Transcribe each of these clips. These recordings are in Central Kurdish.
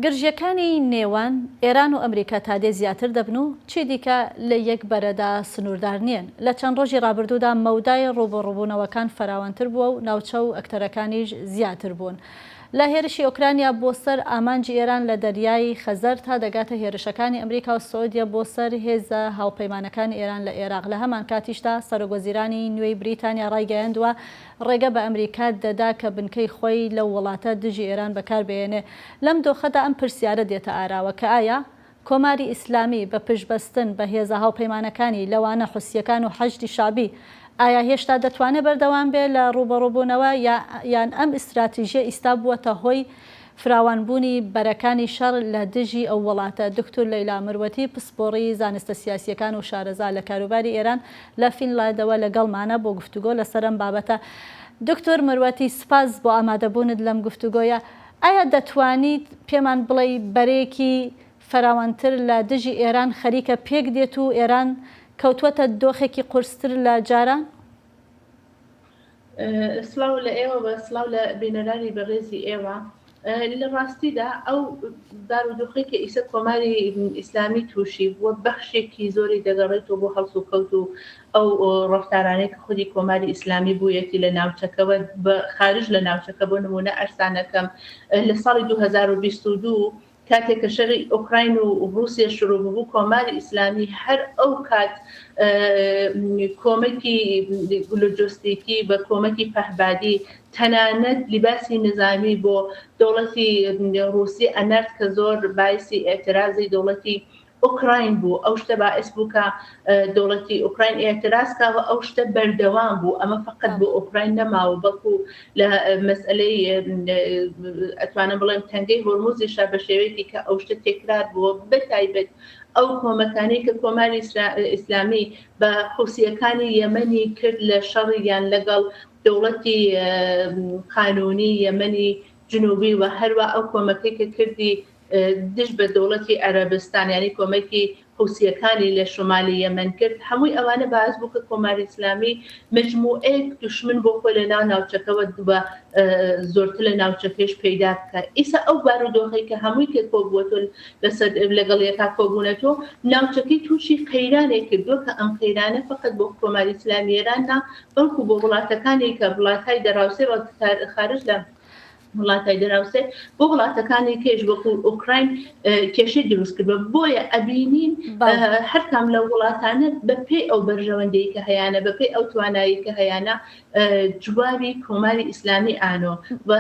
گرژییەکانی نێوان ئێران و ئەمریکا تادێ زیاتر دەبن و چیدیکە لە یەک بەرەدا سنووردار نییەن. لە چەند ڕۆژی ڕابردوودا مەودای ڕووبەڕووبوونەوەکان فراوانتر بووە و ناوچە و ئەکتەرەکانیش زیاتر بوون. لە هێرشی ئۆکرانیا بۆ سەر ئامانجی ئێران لە دەریای خەزەر تا دەگاتە هێرشەکانی ئەمریکا و سعودیە بۆ سەر هێزە هاوپەیمانەکانی ئێران لە ئێراق. لە هەمانکاتیشدا سەرۆکوەزیرانی نوێی بریتانیا ڕایگەیاندووە ڕێگە بە ئەمریکا دەدا کە بنکەی خۆی لەو وڵاتە دژی ئێران بەکار بهێنێ. لەم دۆخەدا ئەم پرسیارە دێتە ئاراوە کە ئایا کۆماری ئیسلامی بە پشتبەستن بە هێزە هاوپەیمانەکانی لەوانە حوسییەکان و حەشدی شەعبی ئایا هێشتا دەتوانێ بەردەوام بێ لە ڕووبەڕووبوونەوە یان ئەم ئیستراتیژیە ئیستا بووەتە هۆی فراوانبوونی بەرەکانی شەڕ لە دژی ئەو وڵاتە، دوکتور لەیلا مروەتی، پسپۆڕی زانستە سیاسییەکان و شارەزا لە کاروباری ئێران لە فینلادەوە لەگەڵمانە بۆ گفتوگۆ لەسەر ئەم بابەتە. دوکتور مروەتی، سپاس بۆ ئامادەبوونت لەم گفتوگۆیە. ئایا دەتوانیت پێمان بڵێی بەرەیەکی فراوانتر لە دژی ئێران خەریکە پێکدێت و ئێران کەوتووەتە دۆخێکی قورستر لە جاران؟ سڵاو لە ئێوە و سڵاو لە بینەرانی بەڕێزی ئێوە. لە ڕاستیدا ئەو بارودۆخەی کە ئیسە کۆماری ئیسلامی تووشی بووە بەخشێکی زۆری دەگەڕێتەوە بۆ هەڵسوکەوت و ئەو ڕەفتارانەی کە خودی کۆماری ئیسلامی بوویەتی لە ناوچەکەوە بە خارج لە ناوچەکە بۆ نموونە ئەرسانەکەم لە ساڵی دوو هەزار و بیست و دوو کاتێک کە شەری ئۆکراین و ڕووسیە شروو ببوو، کۆماری ئیسلامی هەر ئەو کات کۆمەکی لۆجۆستیکی بە کۆمەکی پەهبادی تەنانەت لیباسی نزامی بۆ دەوڵەتی ڕووسی ئەنارد کە زۆر بایسی ئێعترازی دەوڵەتی ئۆکراین بوو ئەو شتە باعس بوو کە دەوڵەتی ئۆکراین ئێعتراز کاوە ئەو شتە بەردەوام بوو ئەمە فقط بۆ ئۆکراین نەماوە بەڵکو لە مەسئلەی ئەتوانم بڵێم تەنگەی هۆرموزیشا بە شێوەیەکی کە ئەو شتە تێکرار بووە بە تایبەت ئەو کۆمەکانی کە کۆماری ئیسلامی بە حوسیەکانی یەمەنی کرد لە شەڕیان لەگەڵ دەوڵەتی قانونی یەمەنی جنوبی و هەروە ئەو کۆمەکەی کە کردی دژ بە دەوڵەتی عەرەبستان یانی کۆمەکی حوسییەکانی لە شومالی یەمەن کرد، هەمووی ئەوانە باعس بوو کە کۆماری ئیسلامی مەجموعەیەک دوشمن بۆ خۆی لە ناو ناوچەکەوە و زۆرتر لە ناوچەکەیش پەیدا بکا. ئیسا ئەو بارودۆخەی کە هەمووی کە کۆبووەتۆ لەسەر لەگەڵ یەکا کۆبوونەتۆ ناوچەکەی تووشی قەیرانێک کردووە کە ئەم قەیرانە فەقەت بۆ کۆماری ئیسلامی ئێران نا بەڵکوو بۆ وڵاتەکانی کە وڵاتای دەراوسێ و خارج لە وڵاتای دراوسێ بۆ وڵاتەکانی کێش وەکو ئۆکراین کێشەی دروست کردوە بۆیە ئەبینین هەرکام لە وڵاتانە بەپی ئەو بەرژەوەندەی کە هەیەە بەپی ئەو توانایی کە هەیەە جوابی کۆماری ئیسلامی ئانۆ و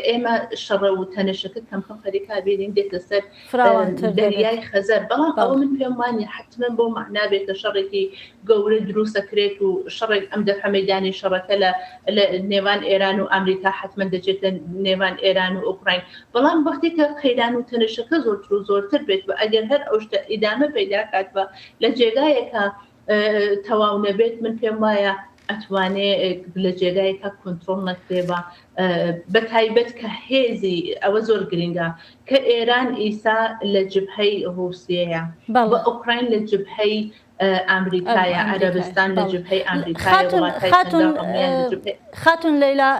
ئێمە شەڕە و تەنەشەکە کەم خەم خەریکا بینین دێتە سەر فراوانتر دەبێت. دەریای خەزەر، بەڵام ئەوە من پێم وانیە حەتمەن بەو مەعنا بێت کە شەڕێکی گەورە دروست دەکرێت و شەڕێک ئەم دەفعە مەیدانی شەڕەکە لە لە نێوان ئێران و ئامریکا حەتمەن دەچێتە نێوان ئێران و ئۆکڕاین بەڵام وەختێک کە قەیران و تەنشەکە زۆرتر و زۆرتر بێت و ئەگەر هەر ئەو شتە ئیدامە پەیدا کات و لە جێگایەکا تەواو نەبێت من پێم وایە ئەتوانێ لە جێگایکە کۆنتترۆل نەکرێبا بە تایبەت کە هێزی ئەوە زۆر گرنگە کە ئێران ئیسا لە جبهەی ڕوسیەیە بە ئۆکراین لە جبهەی ئەمریکایە عەربستان لە جبهەی خاتون لەیلا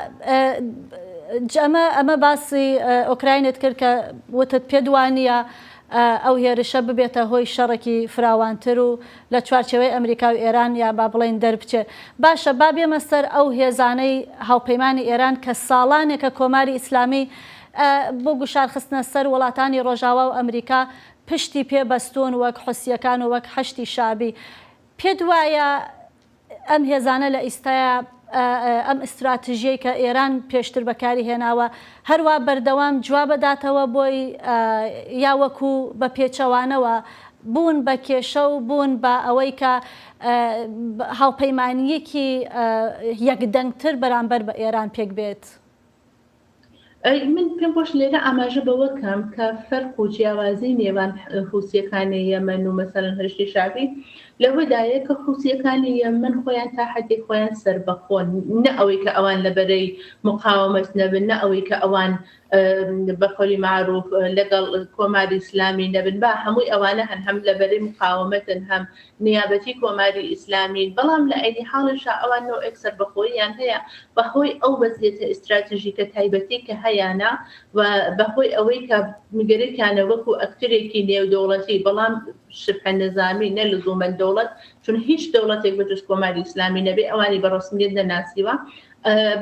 ئەمە ئەمە باسی ئۆکراینت کرد کە وتت پێدوانە ئەو هێرشە ببێتە هۆی شەڕێکی فراوانتر و لە چوارچێوەی ئەمریکا و ئێران یان با بڵێین دەربچێت. باشە با بێمە سەر ئەو هێزانەی هاوپەیمانی ئێران کە ساڵانێکە کۆماری ئیسلامیی بۆ گوشار خستنە سەر وڵاتانی ڕۆژاوا و ئەمریکا پشتی پێ بەستوون وەک حوسییەکان و وەک حەشدی شەعبی. پێت وایە ئەم هێزانە لە ئیستایا ئەم ئیستراتژیەی کە ئێران پێشتر بەکاری هێناوە هەروا بەردەوام جوابەداتەوە بۆی یا وەکو بە پێچەوانەوە بوون بە کێشە و بوون بە ئەوەی کە هاوپەیمانیەکی یەکدەنگتر بەرامبەر بە ئێران پێک بێت؟ من پێم خۆش لێرە ئاماژە بەوە کەم کە فەرق و جیاوازی نێوان حوسیەکانی یەمەن و مەسەرن هەشتی شعبی لەوەدایە کە حوسیەکانی یەمەن خۆیان تا حدێک خۆیان سربەخۆن نە ئەوەی کە ئەوان لە بەرەی مقاومەت نەبن نە ئەوەی کە ئەوان بەقۆلی معروف لەگەڵ کۆماری ئیسلامی نەبن با هەمووی ئەوانە هەن هەم لە بەرەی مقاومەتن هەم نیابەتی کۆماری ئیسلامین، بەڵام لە عەینی حاڵیشا ئەوان نەوعێک سەربەخۆییان هەیە بەهۆی ئەو وەزیەتە ئیستراتژیکە تایبەتەی کە هەیانە و بەهۆی ئەوەی کە گەرەکیانە وەکو ئەکتەرێکی نێودەوڵەتی بەڵام شبه نظامی نە لزوما دەوڵەت چون هیچ دەوڵەتێک بەجز کۆماری ئیسلامی نەبێ ئەوانی بە ڕەسمیەت نەناسیوە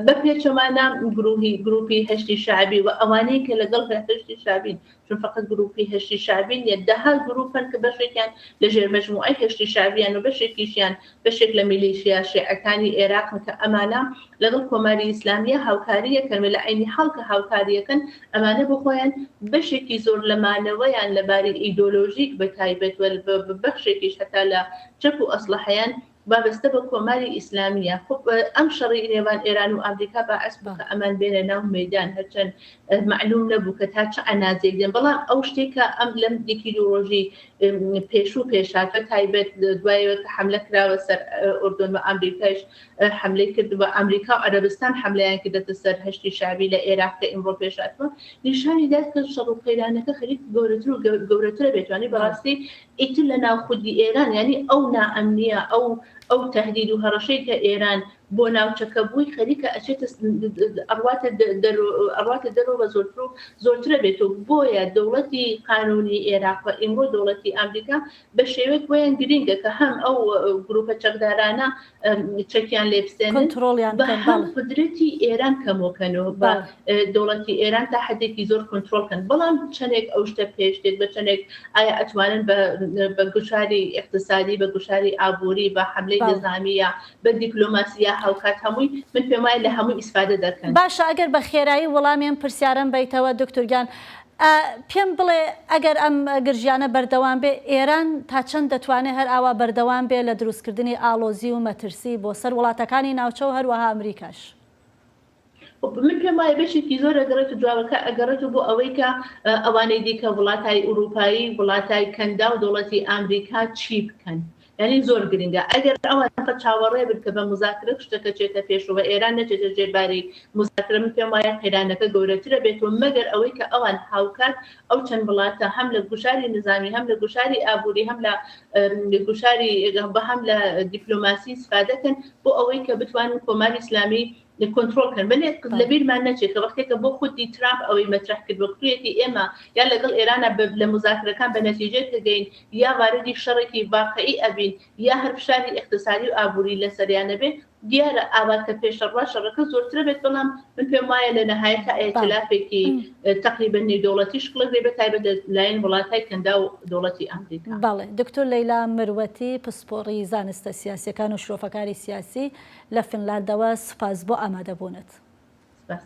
بە پێچەوانە گروهی گروپی هەشدی شەعبی و ئەوانەی کە لەگەڵ هەشدی شەعبین چون فەقەت گرووپی هەشدی شەعبی نییە، دەها گرووپ هەن کە بەشێکیان لە ژێر مەجموعەی هەشدی شەعبییەن و بەشێکیشیان بەشێک لە میلیشیا شێعەکانی ئێراقن کە ئەمانە لەگەڵ کۆماری ئیسلامییە هاوکاری ئەکەن و لە عەینی حاڵ کە هاوکاری ئەکەن ئەمانە بۆ خۆیان بەشێکی زۆر لە مانەوەیان لە باری ئیدۆلۆژیک بە تایبەت و بەشێکیش هەتا لە چەک و ئەسڵەحەیان وابەستە بە کۆماری ئیسلامیە خۆ ئەم شەڕی نێوان ئێران و ئامریکا باعس بوو کە ئەمان بێنە ناو مەیدان هەرچەند مەعلوم نەبوو کە تا چ عەنازێک دێن بەڵام ئەو شتێک کە ئەم لەم یەکی دوو ڕۆژی پێشوو پێشا بە تایبەت دوایەوە کە حملە کراوە سەر ئۆردۆن و ئامریکایش حملەی کرد بە ئامریکا و عەرەبستان حملەیان کردەتە سەر هەشتی شعبی لە ئێراق کە ئیمڕۆ پێشاتوە نیشانی داد کە شەڕ و قەیرانەکە خەریک گەورەتر و گەورەترە بێتوانی بەڕاستی ئیتر لە ناو خودی ئێران یانی ئەو نائەمنییە ئەو ئەو تەهدید و هەڕەشەی کە ئێران بۆ ناوچەکە بووی خەریکە ئەچێتە ئەڕواتە دەر ئەڕواتە دەرەوە بە زۆرتر و زۆرترە بێت و بۆیە دەوڵەتی قانونی ئێراق و ئیمڕۆ دەوڵەتی ئامریکا بە شێوەیەک بۆیان گرینگە کە هەم ئەو گروپە چەکدارانە چەکیان لێبسێن کۆنترۆڵیان بە بکەن، هەم بەڵێ. قدرەتی ئێران کەمۆکەنەوە بە بەڵێ. اه، دەوڵەتی ئێران تا حەدێکی زۆر کۆنترۆڵ کەن بەڵام چەندێک ئەو شتە پێش دێت بە چەندێک ئایا ئەتوانن بە بە گوشاری ئیقتسادی بە گوشاری ئابووری بە حەملەی بەڵێ. نیزامی یا بە دیپلۆماسی یا هاوکات هەمووی من پێم وایە لە هەمووی ئیسفادە دەکەن. باشە ئەگەر بە خێرایی وەڵامی ئەم پرسیارەم بەیتەوە دوکتور گیان ئە پێم بڵێ ئەگەر ئەم گرژیانە بەردەوام بێ ئێران تا چەند دەتوانێ هەر ئاوا بەردەوام بێ لە دروست کردنی ئاڵۆزی و مەترسی بۆ سەر وڵاتەکانی ناوچە و هەر وەها ئەمریکاش؟ خۆ من پێم وایە بەشێکی زۆر ئەگەڕێت و جوابەکە ئەگەڕێتەوە بۆ ئەوەی کە ئەوانەی دیکە وڵاتای ئورووپایی وڵاتای کەنداو دەوڵەتی ئامریکا چی بکەن؟ یانی زۆر گرنگە ئەگەر ئەوان فقط چاوەڕێ بن کە بە موزاکرە شتەکە چێتە پێش و بە ئێران نەچێتە ژێر باری موزاکرە من پێم وایە قەیرانەکە گەورەترە بێت و مەگەر ئەوەی کە ئەوان هاوکات ئەو چەند وڵاتە هەم لە گوشاری نزامی هەم لە گوشاری ئابووری هەم لە گوشاری بە هەم لە دیپلۆماسی سفادە کەن بۆ ئەوەی کە بتوانن کۆماری ئیسلامی لە کۆنترۆڵ کەن بەلێ لە بیرمان نەچێت کە وەختێک کە بۆ خودی ترامپ ئەوەی مەترح کرد وەکتویەتی ئێمە یا لەگەڵ ئێرانە بە لە مزاکرەکان بە نەتیجێ کە گەین یا واردی شەڕێکی واقعی ئەبین یا هەر فشاری ئیقتسادی و ئابووری لە سەریانە بێ دیارە ئاوا کە پێشە ڕوا شەڕەکە زۆرترە بێت بەڵام من پێم وایە لە نەهایە تا ئەتلافێکی تقریبا نێو دەوڵەتی شکڵێک بێ بە تایبەت لایەن وڵاتای کەندا و دەوڵەتی ئەمریکا بەڵێ دکتۆر لەیلا مروەتی پسپۆڕی زانستە سیاسەکان و شرۆفەکاری سیاسی لە فینلاندەوە سوپاس بۆ ئامادەبوونت. سپاس.